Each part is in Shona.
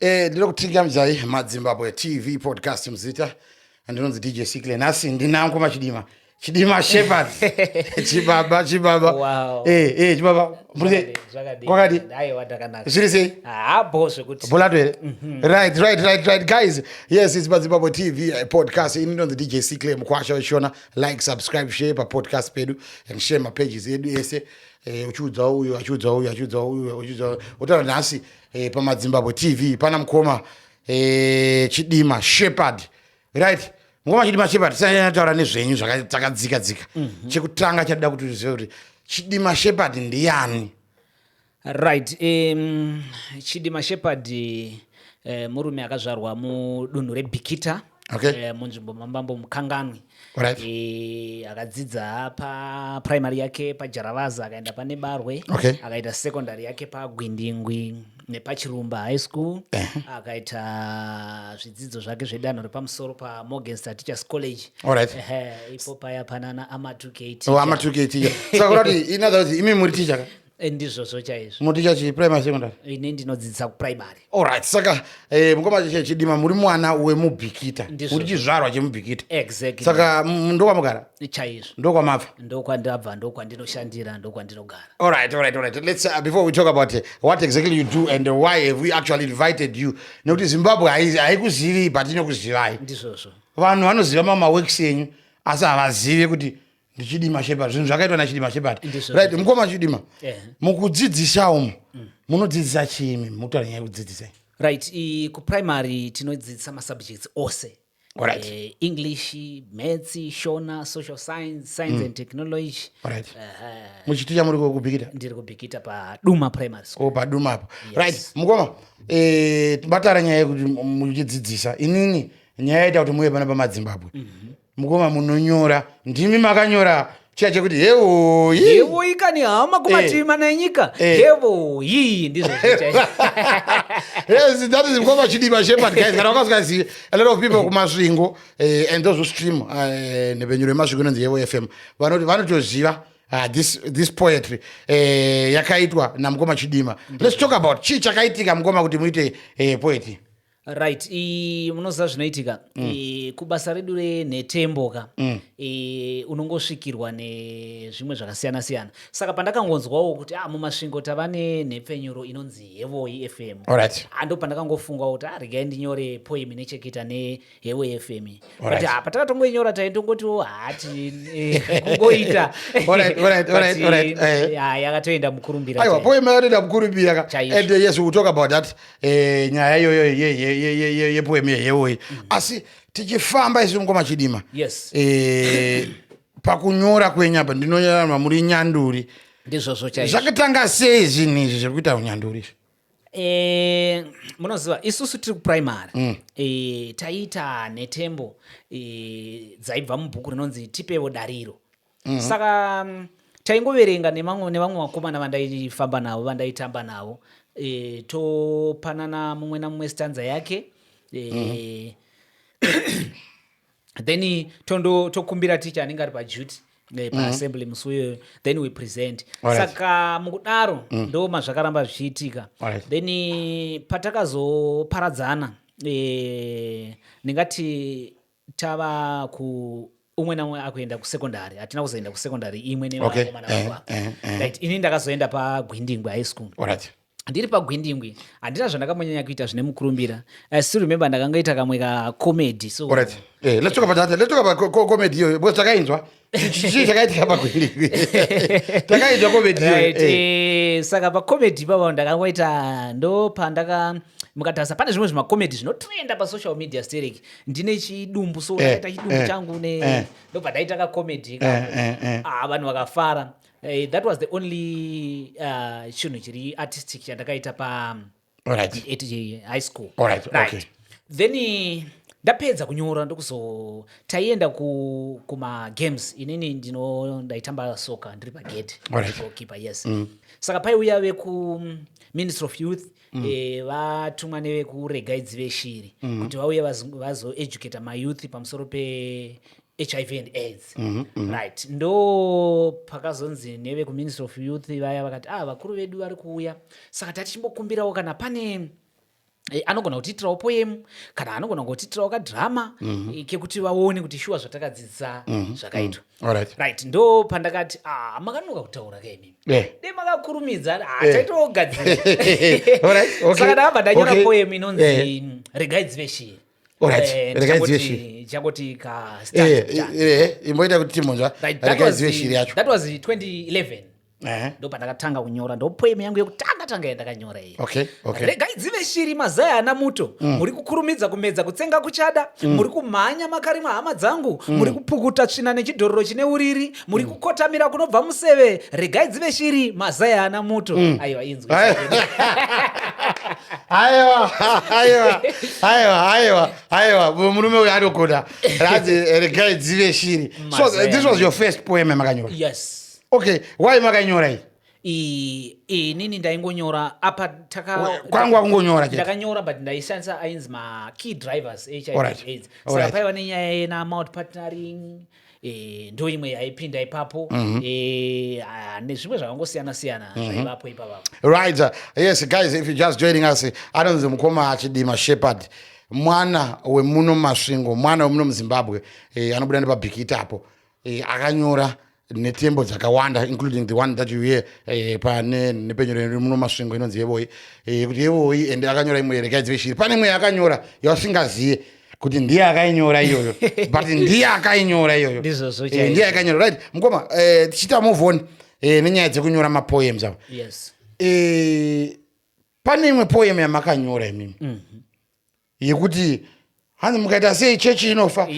Eh, ndiri kutinga mzai madzimbabwe tv podcast muzita andinonzi dj sikle nhasi ndinangu machidima chidima shepard chibaba chibaba wow. eh, eh, chibaba kwakadi zviri sei ah, bolato here mhm. right right right right guys yes it's madzimbabwe tv eh, podcast ini ndonzi dj sikle mukwasha wechishona like subscribe share papodcast pedu and share mapages edu ese Eh, uchiudza uyu achiudza uyu achiudza uyu achiudza uyu otaura nhasi e, pamadzimbabwe tv pana mukoma e, chidima shepherd right mukoma chidima shepherd tisanataura nezvenyu zvakadzika dzika mm -hmm. chekutanga chatida kuti uzive kuti chidima shepherd ndiyani right um, chidima shepherd uh, murume akazvarwa mudunhu rebikita okay. Eh, munzvimbo mamambo mukanganwi right. e, akadzidza paprimary yake pajaravaza akaenda pane barwe okay. akaita secondary yake pagwindingwi nepachirumba high school eh. akaita zvidzidzo zvake zvedanho repamusoro pamorgensta teachers college right. e, ipo paya panana amatuketi oh, amatuketi saka kuti inother kuti imi muri ticha Eh, ndizvozvo chaizvo munoticha chii primary secondary ini ndinodzidzisa kuprimary allright saka eh, mukoma chidima muri mwana wemubhikita uri chizvarwa chemubhikita exactly saka ndokwamugara chaizvo ndokwamabva ndokwandabva ndokwandinoshandira ndokwandinogara allright allright allright let's uh, before we talk about uh, what exactly you do and why have we actually invited you nekuti zimbabwe haikuzivi but inokuzivai ndizvozvo vanhu vanoziva mamaworks enyu asi havazive kuti ndichidima shepherd zvinhu zvakaitwa nachidima shepherd right mukoma chidima yeah. mukudzidzisa umu mm. munodzidzisa chiimi mukutaura nyaya yekudzidzisai right kuprimary tinodzidzisa masubjects ose Right. Uh, english maths shona social science science mm. and technology right. uh, eh, muchiti chamuri kubikita ndiri kubikita paduma primary school oh, paduma apo yes. right mukoma eh, batara nyaya yekuti muchidzidzisa inini nyaya yaita kuti muve pana pamadzimbabwe mm -hmm. Mukoma munonyora ndimi makanyora chiya chekuti hevoyi hevoyi kani hama kumativi eh. mana enyika eh. hevoyi ndizvo yes that is mukoma chidiba shepherd guys kana wakasingazive a lot of people kumasvingo eh, and those who stream nhepenyuro yemasvingo inonzi hevo fm vanoti vanotoziva Uh, this, this poetry eh, yakaitwa namukoma chidima let's talk about chii chakaitika mukoma kuti muite eh, poetry right munoziva zvinoitika mm. e, kubasa redu renhetembo ka mm. e, unongosvikirwa nezvimwe zvakasiyana siyana saka pandakangonzwawo kuti ah, mumasvingo tava nenhepfenyuro inonzi hevoi fm right. ando pandakangofungawo kuti ah, regai ndinyore poem inecheketa nehevoi fm right. but ah, patakatongoinyora taintongotiwo hati eh, kungoita eh, yakatoenda mukurumbira aiwa poem yakatoenda mukurumbira ka and yes we talk about that eh, nyaya iyoyo yepoemi yeyewoyi mm. asi tichifamba isi mukoma chidima yes. eh, pakunyora kwenyu apa ndinonyora mamuri nyanduri ndizvozvo chaizvo zvakatanga sei zvinhu izvi zviri kuita unyanduri izvi Eh, munoziva isusu tiri kuprimary mm. eh, taiita nhetembo eh, dzaibva mubhuku rinonzi tipevo dariro mm -hmm. saka mm, taingoverenga nevamwe vakomana vandaifamba navo vandaitamba navo e, topanana mumwe namumwe stanza yake e, mm -hmm. then tondo tokumbira ticha anenge ari paduty eh, paassembly mhm. musi uyoyo then we present saka mukudaro mm. ndo mazvakaramba zvichiitika then patakazoparadzana eh, ndingati tava ku umwe naumwe akuenda kusekondari hatina kuzoenda kusekondari imwe nevakomana okay. uh, uh, uh. right ini ndakazoenda pagwindingwe high school right ndiri pagwindingwi handina zvandakambonyanya kuita zvine mukurumbira i still remember ndakangoita kamwe kacomedy so right. hey, eh, let's talk about that. Let's talk about co comedy iyoyo because takainzwa chii chakaitika pakwende takaitwa komedi right. Eh. eh, saka pakomedi ipapa ndakangoita ndo pandaka mukatarisa pane zvimwe zvimakomedi zvinotrenda pasocial media sterek ndine chidumbu so eh, ndakaita chidumbu eh, changu ne eh. ndobva ndaita kakomedi eh, eh, eh. ah, vanhu vakafara eh, that was the only uh, chinhu chiri artistic chandakaita pa at high school right. Okay. then eh, ndapedza kunyora ndokuzo taienda kumagames ku inini ndino ndaitamba soka ndiri pagate gokipa right. yes mm. saka paiuya vekuministry of youth mm. e, vatumwa nevekuregaidzi veshiri mm. kuti vauye vazoeducata mayouth pamusoro pe hiv and aids mm -hmm, mm -hmm. right ndo pakazonzi nevekuministry of youth vaya vakati ah vakuru vedu vari kuuya saka tati chimbokumbirawo kana pane eh, anogona kutiitirawo poemu kana anogona kutiitirawo kadhirama mm -hmm. kekuti vaone kuti shuwa zvatakadzidza mm -hmm. zvakaitwa mm -hmm. right. right ndo pandakati ah, makanonoka kutaura kaimi yeah. de makakurumidza ah, yeah. taitogadzira right. okay. saka ndakabva ndanyora okay. poemu inonzi yeah. regai dzive shii imboita kuti timonzwa rekaizive shiri yacho ndopandakatanga kunyora ndopoem yangu yekutanga tanga yandakanyora iyi okay, okay. regai dzive shiri mazai ana muto mm. muri mm. kukurumidza kumedza kutsenga kuchada mm. muri kumhanya makarima hama dzangu mm. muri kupukuta tsvina nechidhororo chine uriri muri mm. kukotamira kunobva museve regai dzive shiri mazai haana muto mm. aiwa inzwi aiwa aiwa aiwa aiwa aiwa murume uyo anogona ranzi eh, regai dzive shiri so eh, this was your first poem makanyora yes okay why makanyora iyi inini ndaingonyora apa kwangu akungonyora ndakanyora but ndaishandisa ainzi makey drivers hiv aids saka paiva nenyaya yena mount partnering e, ndo imwe yaipinda ipapo mm -hmm. e, a, nezvimwe zvakangosiyana siyana mm -hmm. zvaivapo ipavapo right uh, yes guys if you just joining us anonzi mukoma achidima shepherd mwana wemuno masvingo mwana wemuno muzimbabwe e, anobuda nepabhikita apo e, akanyora netembo dzakawanda including the one that you hear eh, pane nepenyoro iri muno masvingo inonzi yevoi eh, kuti yevoi ende akanyora imwe yerekai dzive shiri pane imwe yakanyora yasingazive kuti ndiye akainyora iyoyo but ndiye akainyora iyoyo eh, ndiye akainyora right mukoma eh, tichiita move on eh, nenyaya dzekunyora mapoems ava yes. e, pane imwe poem yamakanyora imimi mm -hmm. yekuti hanzi mukaita sei chechi inofa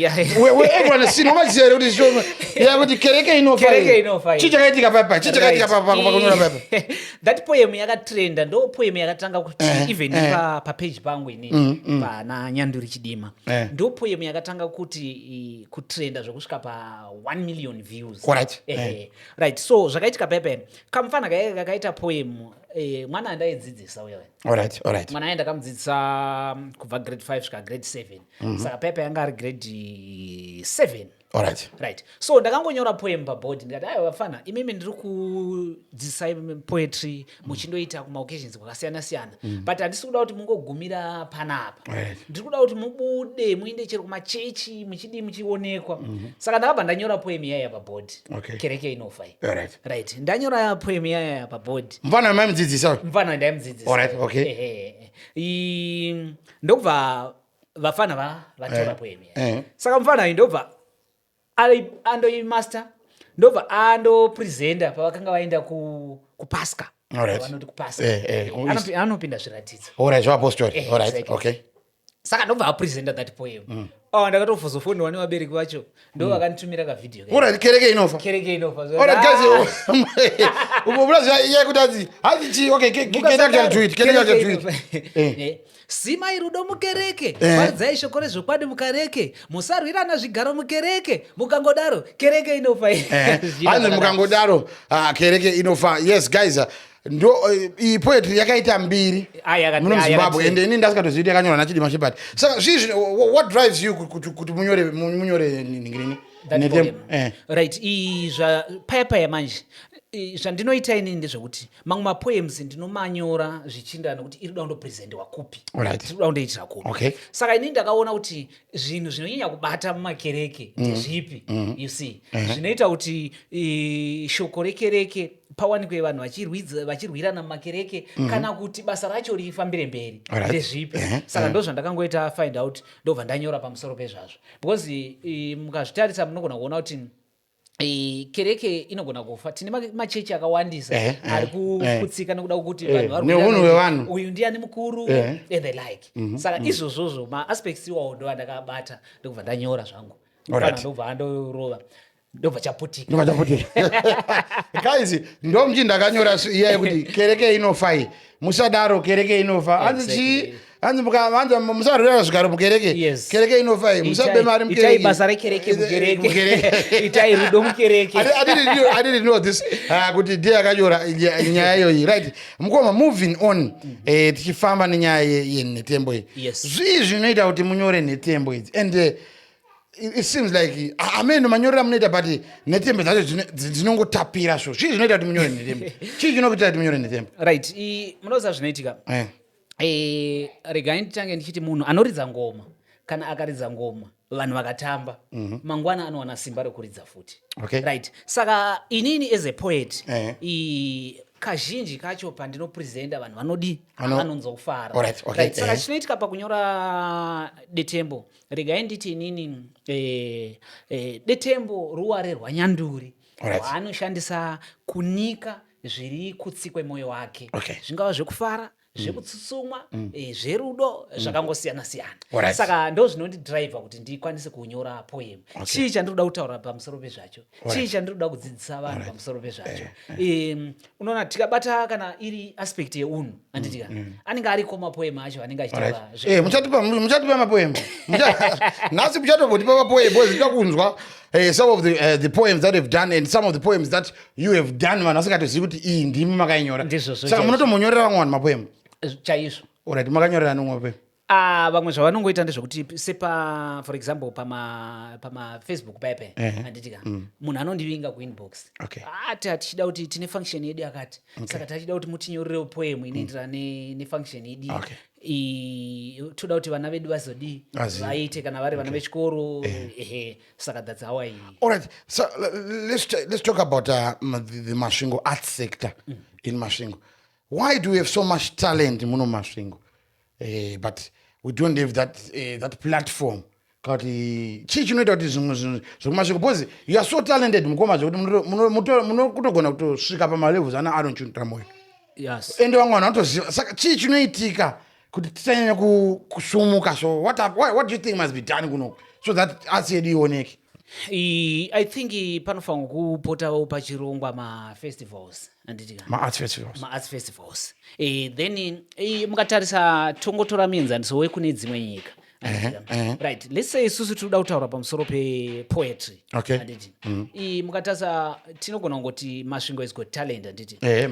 wevanosinhomaziva here kuti kuti kereke inofa chii chakaitika papa chii chakaitika papakunyora papa that poem yakatrenda ndo poem yakatanga kuti eh, even eh. papage pangu mm, mm. pana nyanduri chidima eh. ndo poem yakatanga kuti kutrenda zvekusvika pa 1 million views right, eh, eh. right. so zvakaitika pepen kamufana kaye kakaita poem eh, mwana andaidzidzisa uyo right, right. mwana aye ndakamudzidzisa mm, kubva grade 5 svika grade 7 mm -hmm. saka pepe yanga ari grade 7 Alright. Right. So ndakangonyora poem paboard ndikati ayo vafana imimi ndiri kudzidzisai poetry muchindoita kumaoccasions kwakasiyana siyana mm. but handisi kuda kuti mungogumira panapa right. ndiri kuda kuti mubude muinde chero kumachechi muchidii muchionekwa mm -hmm. saka ndakabva ndanyora poem iyaya paboard okay. kereke inofa right. right ndanyora poem iyaya paboard mvana maimudzidzisa mvana ndaimudzidzisa right. okay. ndokubva vafana va vatora poemi eh. eh. saka mufana ayi ndobva andoimaster ndobva andopresenta pavakanga vaenda ku kupaska vanoti kupaska eh, eh, anopinda zviratidzo orit zvaapostori eh, orit okay saka ndobva apresenta that poem mm. oh, ndakatofozofonirwa nevabereki vacho ndo vakanditumira ka video alright kereke inofa kereke inofa alright guys ubo plus ya kuti azi hazi chi okay kereke ya tweet kereke ya tweet eh sima irudo mukereke paridzai eh. shoko rezvokwadi mukareke musarwirana zvigaro mukereke mukangodaro kereke inofa eh. hanzi mukangodaro ah, kereke inofa yes guys ah, ndo eh, iyi poetry yakaita mbiri muno muzimbabwe ende ini ndasikatoziiti yakanyora nachidima shepherd saka zvii zvino what drives you kuti munyore munyore ningirini eh. right iyi zva paya paya manje zvandinoita inini ndezvekuti mamwe mapoems ndinomanyora zvichienderana nekuti iri kuda kundopresentiwa kupi right. iri kuda kundoitira kupi okay. saka inini ndakaona kuti zvinhu zvinonyanya kubata mumakereke mm. ndezvipi mm. you see uh-huh. zvinoita kuti shoko rekereke pawanikwe vanhu vachirwirana mumakereke mm-hmm. kana kuti basa racho rifambire mberi ndezvipi uh-huh. saka uh-huh. ndo zvandakangoita find out ndobva ndanyora pamusoro pezvazvo because mukazvitarisa munogona kuona kuti Eh, kereke inogona kufa tine machechi akawandisa eh, eh, ari kuputsika nekuda kwekuti vanhuneunhu wevanhu uyu ndiani mukuru and the like mhm, saka mhm. izvozvozvo maaspects iwawo ndo andakabata ndokubva ndanyora zvangu ndobva andorova ndobva chaputika ndobva chaputika guys ndomji ndakanyora iya yekuti kereke inofai musadaro kereke inofa hanzi chii hanzi mukavanza musarwira zvigaro mukereke kereke inofa iyi musabe mari mukereke basa rekereke mukereke itai rudo mukereke i didn't know this ah, kuti ndiye akanyora nyaya iyoyi right mukoma moving on mm. eh, tichifamba nenyaya yenhetembo iyi zvii zvinoita kuti munyore nhetembo idzi and eh, it seems like ameno manyorera munoita but netembe dzacho dzinongotapira so chii zvinoita kuti munyore netembe chii chinokuita kuti munyore netembe right munoziva zvinoitika eh. eh, regai nditange ndichiti munhu anoridza ngoma kana akaridza ngoma vanhu vakatamba mhm. mangwana anowana simba rekuridza futi right saka inini as a poet eh. kazhinji kacho pandinopresenta vanhu vanodi vanonzwa kufara saka chinoitika pakunyora detembo regai nditi inini eh, eh, detembo ruware rwanyanduri rwaanoshandisa right. kunika zviri kutsi kwemoyo wake okay. zvingava zvekufara Mm. zvekutsutsumwa mm. eh, zverudo mm. zvakangosiyana siyana right. saka ndo zvinondidriva kuti ndikwanise kunyora poem okay. chii chandiri kuda kutaura pamusoro pezvacho right. chii chandiri kuda kudzidzisa vanhu right. pamusoro pezvacho eh, eh. unoona tikabata kana iri aspect yeunhu anditika mm, mm. anenge ariko mapoema acho anenge achitauramuchatipa eh, mapoema nhasi muchatovotipa mapoema bcause ita kunzwa eh, some of the, uh, the poems that have done and some of the poems that you have done vanhu vasingatozivi kuti iyi ndimi makainyora saka munotomonyorera vamwe vanhu mapoema chaizvo orit makanyorera nomwe mapoema Ah, vamwe zvavanongoita ndezvekuti sepa for example pama pama facebook paye paye uh -huh. anditika mm. munhu mm. anondivinga kuinbox okay. ati ah, hatichida kuti tine function yedu yakati okay. saka tachida kuti mutinyorerewo poem inoenderana mm. ne, nefunction yedu okay toda kuti vana vedu vazodii vaite kana vari vana vechikoro eh. ehe saka that's how i alright so let's, let's talk about uh, the masvingo art sector mm. in masvingo why do we have so much talent muno masvingo eh, but we don't have that, eh, that platform kuti chii chinoita kuti zvimwe zvinhu zvekumasviko bcause youare so talented mukoma zvekuti munokutogona kutosvika pamalevels ana aron chuntra moyo yes. ende vamwe vanhu vanotoziva saka chii chinoitika kuti tisanyanya kusumuka so what, what, what do you think must be done kunoku so that asi yedu ioneke i think panofanirwa kupotawo pachirongwa mafestivals maarts festivals, ma festivals. E, then e, mukatarisa tongotora mienzaniso wekune dzimwe nyika right let's say isusu tiri kuda kutaura pamusoro pepoetry okay. mm. i mukatasa tinogona kungoti masvingo is got talent handiti eh,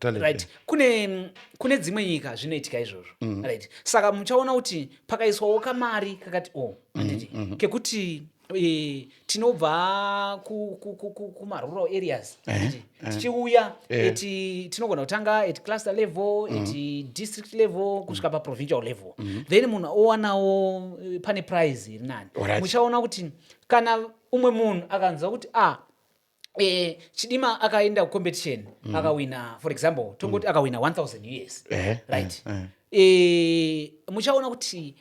right kune kune dzimwe nyika zvinoitika izvozvo mm. right saka muchaona kuti pakaiswawo kamari kakati o oh, handiti mm, mm, mm. kekuti Eh, tinobva kumarural areas eh, eh. tichiuya eti tinogona kutanga at cluster level mm. at district level kusvika mm. paprovincial level mm. then munhu owanawo pane prize iri nani muchaona kuti kana umwe munhu akanzwa kuti a ah, eh, chidima akaenda kucompetition mm. akawina for example tongoti mm. akawina 1000 us eh, eh, right eh, eh. Eh, muchaona kuti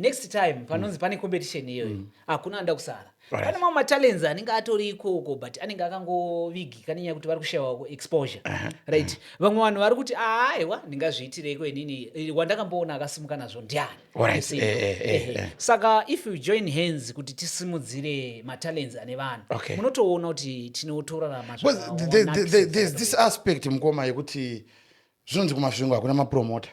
next time panonzi mm. pane competition iyoyo mm. hakuna anoda kusara right. pane mamwe matalents anenge atori ikoko but anenge akangovigi kane nyaya kuti vari kushayawo exposure uh -huh. right vamwe vanhu vari kuti aaiwa ndingazviitireiko inini wandakamboona akasimuka nazvo ndiani Alright, eh, eh, eh, eh. saka if you join hands kuti tisimudzire matalents ane vanhu Okay. munotoona kuti tinotorarama Because zvaka- the- the- the- wanakisa the- there's this aspect mukoma yekuti zvinonzi kumasvingo hakuna mapromota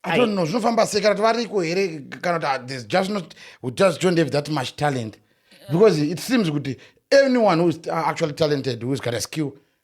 I don't know zvinofamba sei kana kuti variko here kana kuti ah, there's just not we just don't have that much talent because it seems kuti anyone who is uh, actually talented who's got a skill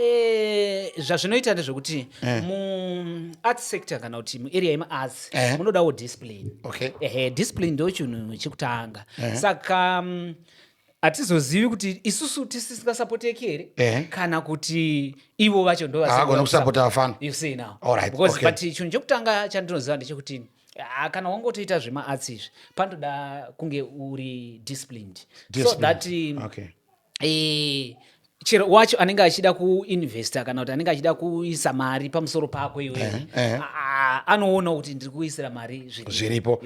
Eh, zvazvinoita ndezvekuti eh. muart sector kana kuti muarea yemaarts eh. munodawo discipline okay. ehe discipline ndo chinhu chekutanga eh. saka mm, hatizozivi kuti isusu tisingasapoteki here eh. kana kuti ivo vacho ndovagona kusapota vafana because but chinhu chekutanga chandinoziva ndechekuti ah, kana wangotoita zvemaarts izvi panotoda kunge uri disciplined, disciplined. so that mm, okay eh, chero wacho anenge achida kuinvesta kana kuti anenge achida kuisa mari pamusoro pako iwe eh, eh. anoona kuti ndiri kuisira mari zviripo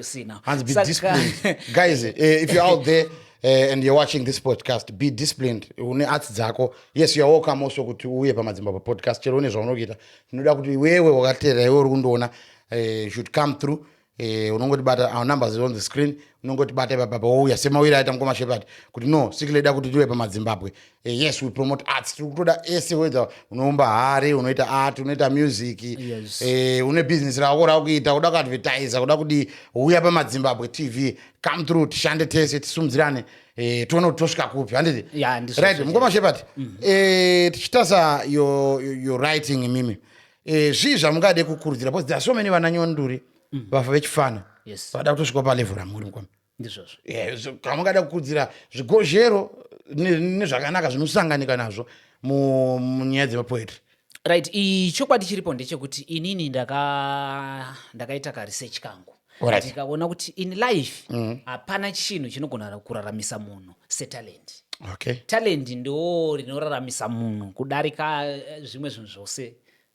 guys eh, if you're out there Uh, and you're watching this podcast be disciplined une arts dzako yes you're welcome also kuti uye pamadzimba papodcast chero une zvaunokuita tinoda kuti wewe wakateerera iwe uri kundiona uh, should come through eh, unongotibata our numbers is on the screen unongotibata ipapapa wouya semawiri aita mukoma shepherd kuti no siki leda kuti tiwe pamadzimbabwe eh, yes we promote arts tiri kutoda ese whether unoumba hari unoita art unoita music Yes. eh, une business rako rakuita kuda kuadvertisa kuda kudii uya pamadzimbabwe tv come through tishande tese tisimudzirane eh, tione kuti tosvika kupi handiti Yeah, ndizvo right zvese. mukoma shepherd eh, tichitasa your, your- your writing imimi eh, zvii zvamungade kukurudzira because there are so many vana nyonduri mm. vafa vechifana yes. vada kutosvika palevo ramuri mukoma ndizvozvo eh, kamungada kukurudzira zvigozhero nezvakanaka zvinosanganika nazvo munyaya dzemapoetry right chokwadi chiripo ndechekuti inini ndakaita karesearch kangu ndikaona kuti in life mm. hapana mm. chinhu chinogona kuraramisa munhu setalent okay. talent ndo rinoraramisa munhu kudarika eh, zvimwe zvinhu zvose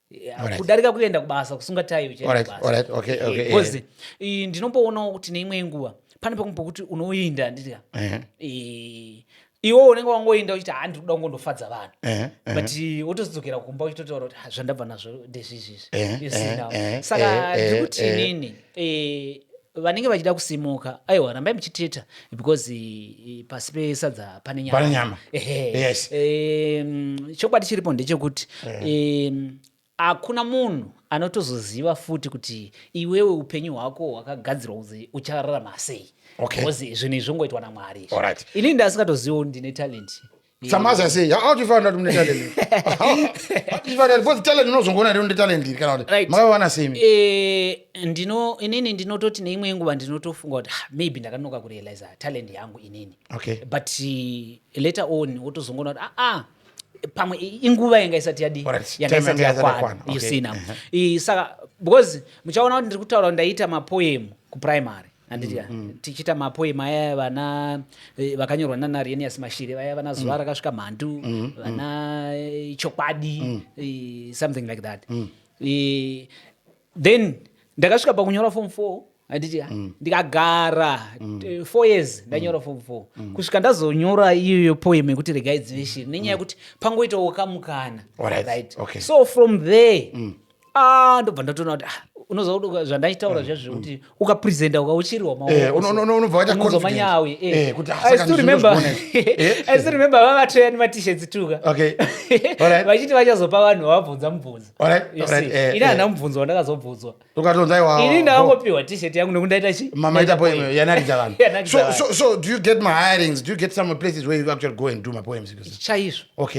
eh, kudarika kuenda kubasa kusunga tayi uchiendabasa eh, ndinomboonawo kuti neimwe nguva pane pamwe pokuti unoinda nditi uh-huh. iwo unenge wangoenda uchiti haa ndiri kuda kungondofadza vanhu eh, eh. but wotozodzokera kumba uchitotaura kuti zvandabva nazvo ndezvizvizvi eh, saka ndiri kuti inini vanenge vachida kusimuka aiwa rambai muchiteta because pasi pesadza pane nyama ehe chokwadi chiripo ndechekuti Akuna munhu anotozoziva futi kuti iwewe upenyu hwako hwakagadzirwa kunzi uchararama sei. Okay. Because zvinhu izvi zvongoitwa naMwari izvi. Alright. Ini ndasingatozivo ndine talent. Samazi asei how do you find out mune talent how do you find out because talent unozongoona rino talent iri kana kuti Right. makawana sei imi? Eh, ndino inini ndinototi neimwe yenguva ndinotofunga kuti "Ah, maybe ndakanoka kurealiza talent yangu inini Okay. but eh, later on wotozongoona kuti aa pamwe inguva yanga isati yadi yanga isati yakwana you see now uh-huh. saka because muchaona kuti ndiri kutaura ndaita mapoem kuprimary anditya mm, mm. tichiita mapoem aya vana e, vakanyorwa nana rienias mashiri vaya vana zuva mm. rakasvika mhandu vana e, chokwadi e, something like that then ndakasvika pakunyora form four handiti mm. ndikagara mm. Eh, four years mm. ndanyora form four mm. kusvika ndazonyora iyoyo poem yekuti regai dzive shiri nenyaya mm. yekuti mm. pangoitawo kamukana right. right. Okay. so from there mm. ah, ndobva ndatoona kuti ah, unoziva kuti zvandaitaura mm. zviya zvekuti mm. ukapresenta ukauchirirwa maounobva waita manyawi remember vavatoya nematichets tuka vachiti vachazopa vanhu vavabvunza mubvunzo ini hana mubvunzo wandakazobvunzwa ini ndakangopiwa tishet yangu nekuti ndaita chichaizvo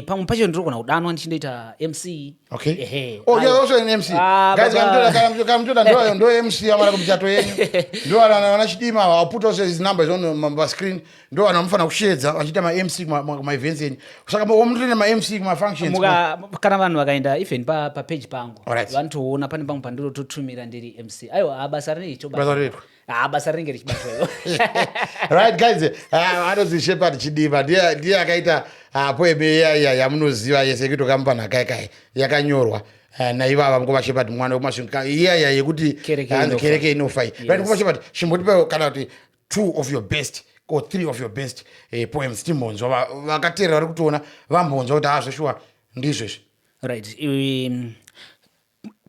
pamwe pacho ndirogona kudanwa ndichindoita mc Okay. Ehe. Oh, you're also an MC. Ah, Guys, baba. kamtoda kamtoda kamtoda ndo ndo MC amara kumchato yenyu. Ndo ana ana chidima wa put also his numbers on the ma- screen. Ndo ana mfana kushedza achiita ma MC kuma kuma- kuma events yenyu. Saka mo omutenda ma MC kuma functions. kuma- Muka, kana vanhu vakaenda even pa, pa page pangu Alright. vanotoona pane pamwe pandinototumira ndiri mc aiwa ah, basa rinoitwa Basa reitwa. Ah, basa rinenge richibatwa io right guys ah, anonzi shepard chidiva ndiye akaita apo ah, emeeya yamunoziva yese yekutoka mupanhakai kai yakanyorwa eh, naivava mukoma shepard mwana wekumasvinga iyaya yekuti kereke inofa iyi right mukoma shepard chimbotipa kana kuti two of your best or three of your best eh, poems timbonzwa vakateerera vari kutoona vambonzwa kuti azveshuwa ndizvezvi right um,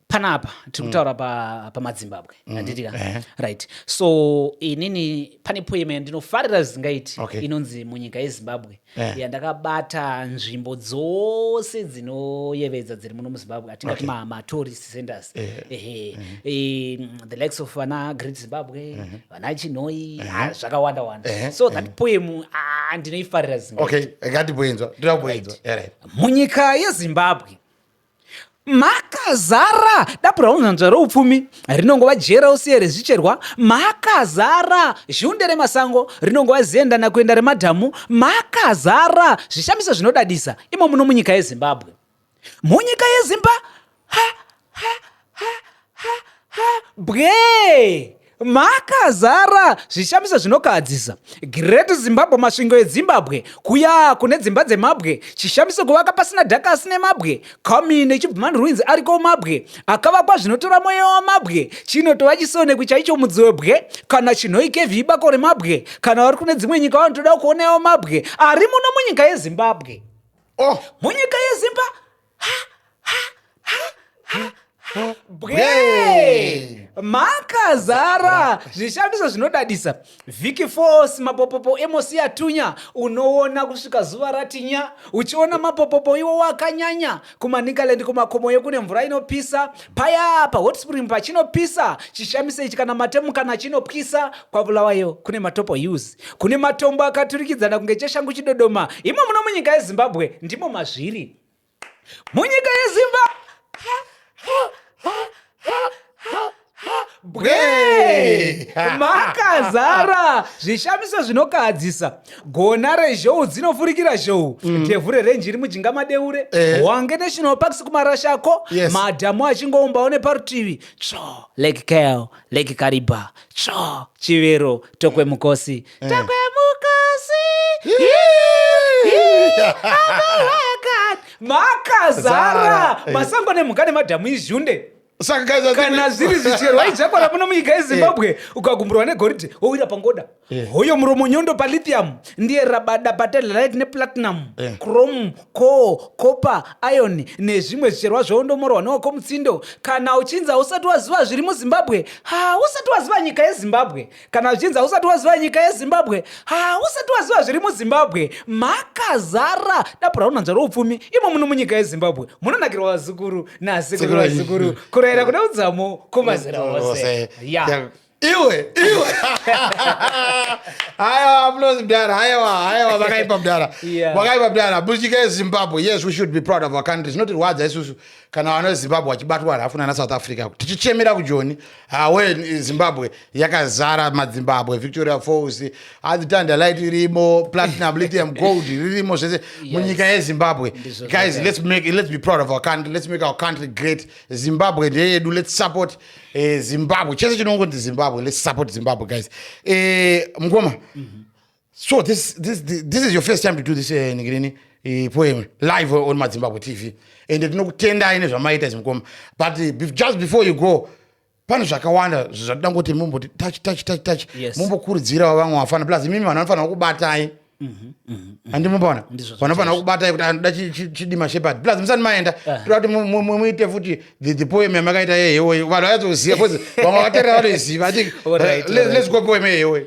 panapa tiri mm. kutaura mm. pamadzimbabwe pa mm. anditika mm. Eh. right so inini pane poema yandinofarira zvisingaiti okay. inonzi munyika yezimbabwe eh. yandakabata nzvimbo dzose dzinoyevedza dziri muno muzimbabwe atingati okay. matourist ma centers eh. ehe eh. eh. mm, the likes of vana great zimbabwe eh. vana chinoi eh. ah, zvakawanda wanda eh. so that eh. poem ah, ndinoifarira zvisingaiti okay. ngatiboinzwa ndirakuboinzwa right. right. munyika yezimbabwe makazara dapura hunzvanzva roupfumi rinongova jera usiye rezvicherwa makazara zhunde remasango rinongova zienda nakuenda remadhamu makazara zvishamiso zvinodadisa imo muno munyika yezimbabwe munyika yezimba ha, ha, ha ha ha bwee makazara zvishamiso zvinokahadzisa great zimbabwe masvingo edzimbabwe kuya kune dzimba dzemabwe chishamiso kuvaka pasina dhaka asine mabwe comin echibman ruins ariko mabwe akavakwa zvinotora mweya wamabwe chinotova chisoneko chaicho mudzi webwe kana chinhoi kevhi ibako remabwe kana vari kune dzimwe nyika vanotoda kuonawo mabwe ari muno munyika yezimbabwe oh. munyika yezimba bwee makazara zvishandiso zvinodadisa vhiki fos mapopopo emosiya tunya unoona kusvika zuva ratinya uchiona mapopopo iwo wakanyanya kumanikaland kumakomo yekune mvura inopisa paya pahotspring pachinopisa chishamiso ichi kana matemu kana chinopwisa kwavulawayo kune matopo us kune matombo akaturikidzana kunge cheshangu chidodoma imo muno munyika yezimbabwe ndimo mazviri munyika yezimba bwe makazara zvishamiso zvinokahadzisa gona rezhou dzinofurikira zhou ndevhu mm. rerenji iri mujinga madeure eh. wange national parks kumarashako yes. madhamu achingoumbawo neparutivi tsvo lake kel lake kariba tsvo chivero tokwe mukosi Eh. Takwe mukasi. Makazara eh. masango nemhuka nemadhamu izhunde kana zviri zvicherwa ijakwara muno munyika yezimbabwe eh. ukagumburwa negoridhe wowira pangoda eh. hoyo muromo nyondo palithium ndiye rabada patelelite neplatinum eh. chrome co copper iron nezvimwe zvicherwa zvoondomorwa newako mutsindo kana uchinzi hausati waziva zviri muzimbabwe hausati waziva nyika yezimbabwe kana zvichinzi hausati waziva nyika yezimbabwe hausati waziva zviri muzimbabwe makazara dapu raunanzva roupfumi imo muno munyika yezimbabwe munonakirwa vazukuru nasekuru vazukuru kurayira kuda udzamo kumazera ose ya iwe iwe hayawa munozi mdara hayawa hayawa vakaipa mdara vakaipa mdara buchika yezimbabwe yes we should be proud of our country zvinotirwadza isusu kana vana vezimbabwe vachibatwa rafu nana south africa tichichemera kujoni hawe zimbabwe yakazara madzimbabwe victoria falls azitandalight irimo platinum lithium gold ririmo zvese munyika yezimbabwe guys let's, make, let's be proud of our country let's make our country great zimbabwe ndeyedu let's support eh, zimbabwe chese chinongonzi zimbabwe let's support zimbabwe guys eh, mngoma mm -hmm. so this, this, this is your first time to do this uh, eh, nigirini uh, eh, poem live on madzimbabwe tv and tinokutendai nezvamaita izvi mukoma but uh, just before you go pane zvakawanda zvatoda kuti mumboti touch touch touch touch yes. mumbokurudzirawo vamwe vafana plus imimi vanhu vanofanira kubatai mhm, mhm, mhm. handimubona vanofanira kubatai kuti anoda chidima shepard plus musati maenda ah. toda kuti muite futi the poem yamakaita yehewoyi vanhu vayazoziva bcause vamwe vaterera vanoiziva i think eh, let's go poem yehewoyi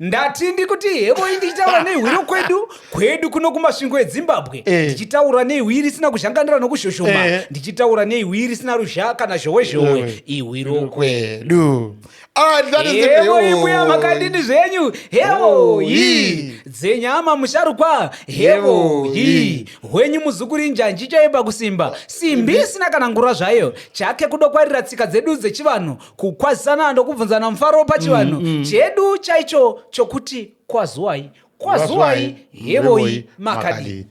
ndati ndikuti hevoi ndichitaura nehwiro kwedu kwedu kuno kumasvingo edzimbabwe eh. ndichitaura neihwi risina kuzhanganira nokuzhoshoma eh. ndichitaura neihwi risina ruzha kana zhowezhowe eh. ihwiro kwedu ah, hevoibuya makadini zvenyu hevoi dzenyama musharukwa hevoi hwenyu muzukuri njanji chaipa kusimba simbi isina kana ngura zvayo chake kudokwarira tsika dzedu dzechivanhu kukwazisana ndokubvunzana mufaro pachivanhu mm, mm. chedu chaicho chokuti kwazuwai kwazuwai hevoi makadii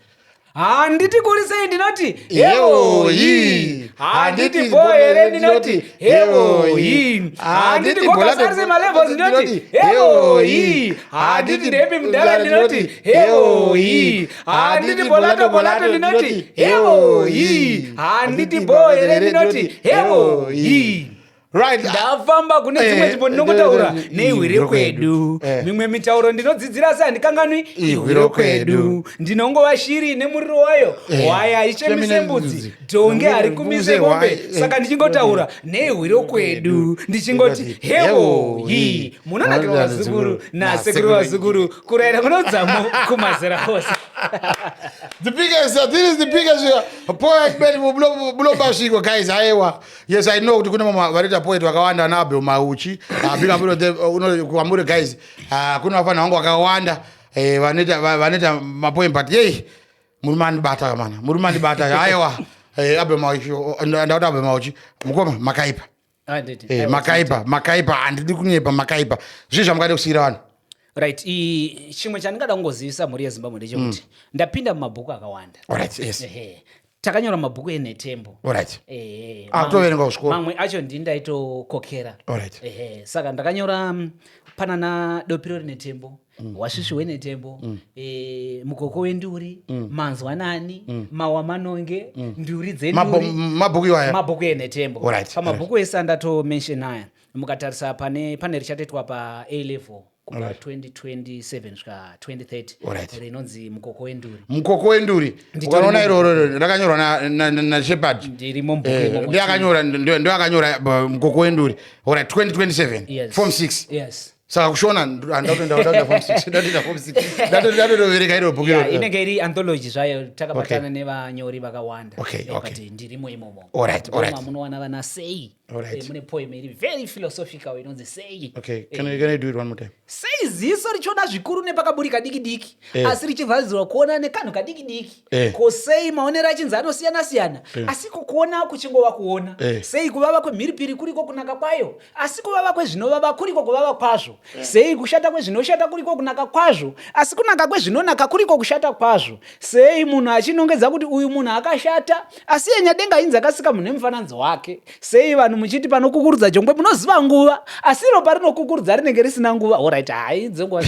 handiti kurisei ndinoti heoi handiti bo here ndinoti heoi handiti kokasarise malevels ndinoti heoi handiti ndepi mudhara ndinoti heoi handiti bolato bolato ndinoti hewo hii handiti boo here ndinoti hewo hii right ndafamba kune dzimwe eh, nzvimbo ndinongotaura eh, eh, neihwire kwedu mimwe mitauro ndinodzidzira asi handikanganwi ihwire kwedu ndinongova shiri nemuriro wayo hwaya haichemise mbudzi dhonge hari kumise mombe saka ndichingotaura neihwire kwedu ndichingoti hewo hii munonakira vazukuru nasekuru vazukuru kuraira kunodzamo kumazera ose the biggest uh, this is the biggest uh, poet bed bulomba sviko guys ayewa yes i know kuti kune mama vanoita poet vakawanda ana abel mauchi uh, big up uh, uno kwamuri guys uh, kune vafana vangu vakawanda eh, vanoita eh, vanoita mapoem but yei muri mandibata mana muri mandibata ayewa eh, abel mauchi ndauta abel mauchi mukoma makaipa Ah, eh, makaipa makaipa handidi kunyepa makaipa zvii zvamukade kusiyira vanhu right chimwe chandingada kungozivisa mhuri yezimbabwe ndechekuti mm. ndapinda mumabhuku akawanda right, yes. takanyora mabhuku enhetembo right. eh, mamwe acho ndii ndaitokokera right. eh, saka ndakanyora mm, panana dopiro rinetembo mm. wasvisvi mm. wenetembo mm. e, mukoko wenduri mm. manzwanani mm. mawa manonge mm. nduri dzemabhuku iwaya mabhuku enetembo right. pamabhuku right. ese andatomention aya mukatarisa pane pane richatoitwa pa a level kubva 2027 svika 2030 rinonzi mukoko wenduri mukoko wenduri ukanoona iroro rakanyorwa nashepard ndiakanyora eh, ndoakanyora mukoko wenduri ora 2027 form 6 saka kushona ndatotovereka iro bhuku iro inenge iri anthology zvayo takabatana nevanyori vakawanda kuti ndirimo imomo munowana vana sei eh, mune poem iri very philosophical inonzi sei eh, sei ziso richiona zvikuru nepakaburika diki diki eh. asi richivharidzirwa kuona nekanhu kadiki diki Eh. ko sei maonero achinzi anosiyana siyana eh. asi kukuona kuchingova kuona eh. sei kuvava kwemhiripiri kuriko kunaka kwayo asi kuvava kwezvinovava kuriko kuvava kwazvo eh. sei kushata kwezvinoshata kuriko kunaka kwazvo asi kunaka kwezvinonaka kuriko kushata kwazvo sei munhu achinongedza kuti uyu munhu akashata asi yenyadenga inzi akasika munhu nemufananidzo wake Sei vanhu muchiti panokukurudza jongwe munoziva nguva asi iro parinokukurudza rinenge risina nguva orit hai dzenguva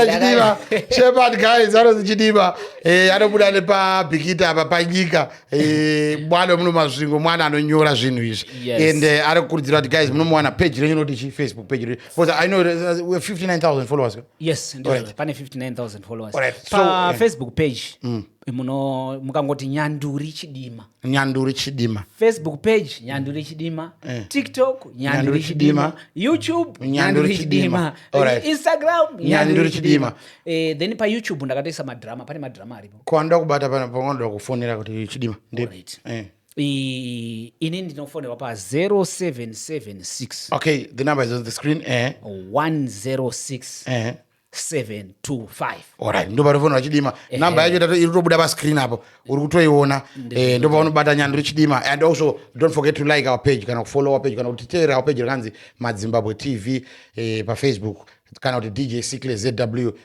chidiva shepherd guys anozi chidiva eh, anobuda nepabhikita apa panyika eh, mwana muno mazvingo mwana anonyora zvinhu izvi and eh, ari kukurudzira kuti guys munomuwana page renyu noti chi facebook page renyu because i know 59000 followers yes pane 59000 followers pafacebook page mm. muno mukangoti nyanduri chidima nyanduri chidima facebook page nyanduri chidima Eh. tiktok Nyanduri nyanduri Chidima. chidima youtube Nyanduri nyanduri Chidima. chidima Alright. instagram Nyanduri nyanduri Chidima. chidima Eh, then payoutube ndakatoisa madrama pane madrama aripo kwanda kubata pana panoda kufonera kuti chidima Ndi- Alright. eh. I- ini ndinofonerwa pa 0776 okay the number is on the screen eh. 106 Eh. 725 ndo panofonera chidima namba yacho iri kutobuda pascreen apo uri kutoiona eh, ndo paunobata nyanduri chidima and also don't forget to like our page kana kufollow our page kana kuti teerera our page rakanzi madzimbabwe tv eh, pafacebook kana kuti dj sicle zw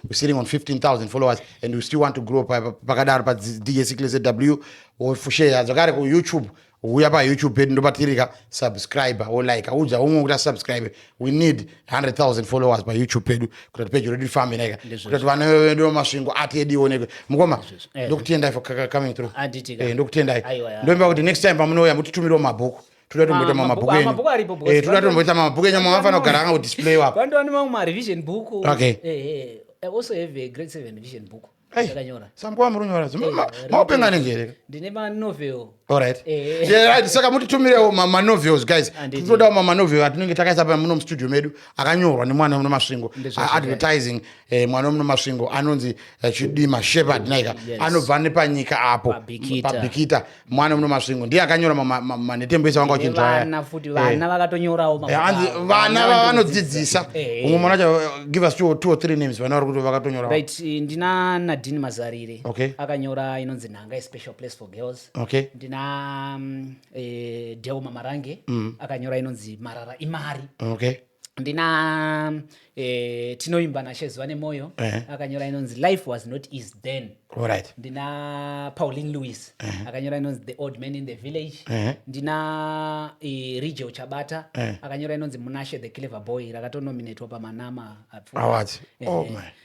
we're sitting on 15000 followers and we still want to grow pakadaro pa dj sicle zw wofusheya zvakare kuyoutube huya payoutube pedu ndopatirika subscribe wo like udza umwe kuti asubscribe we need 100000 followers payoutube pedu kuti peji redu rifambe naika kuti vana vedu masvingo ati edu ionekwe mukoma eh. ndokutendai for coming through eh, ndokutendai ndomba kuti next time pamunouya mutitumiriwo mabhuku toda tomboita mamabhuku ah, enyu eh, toda tomboita mamabhuku enyu mamafana kugara anga kudisplay wapo vandowane mamwe marevision book okay eh, eh, also have a grade seven vision book ndakanyora sambo wamurunyora zimba eh, maupenga nenjereka ndine manovel alright eh. yeah, saka mutitumirewo manovels guys tinodawo mamanovel atinenge takaisa pa muno mustudio medu akanyorwa nemwana muno masvingo advertising eh, mwana muno masvingo anonzi eh, chidima shepherd naika anobva nepanyika apo pabikita mwana muno masvingo ndiye akanyora manhetembo ese vanga vachinzwayavana futi eh. vana vakatonyorawo eh, anzi vana vanodzidzisa eh. umwe mwana wacho give us two, two or three names vana vari kuti vakatonyora right ndina nadini mazarire okay. akanyora inonzi nhanga ispecial place for girls okay. ndina um, mm, e, deo mamarange mm. akanyora inonzi marara imari okay. ndina eh, tinoimba nashezuva nemoyo uh eh. -huh. akanyora inonzi life was not easy then right. ndina paulin louis uh eh. -huh. akanyora inonzi the old man in the village uh -huh. ndina eh, rigio chabata uh -huh. akanyora inonzi munashe the clever boy rakatonominatwa pamanama awards eh, oh,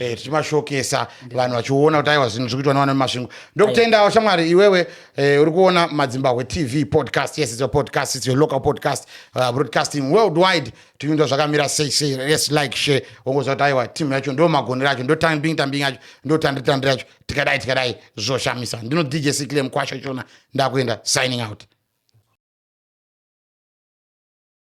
eh, tichimashokesa vanhu vachiona kuti aiwa zvinhu zviri kuitwa nevana vemasvingo ndokutendawo shamwari iwewe eh, uri kuona madzimbahwe tv podcast yes it's your podcast it's your local podcast uh, broadcasting worldwide tivinda zvakamira sei sei yes like share wongoziva kuti aiwa timu yacho ndo magonero acho ndo tambing tambing yacho ndo tandiri tandiri yacho tikadai tikadai zvoshamisa ndino dj sikile mukwasho chona ndakuenda signing out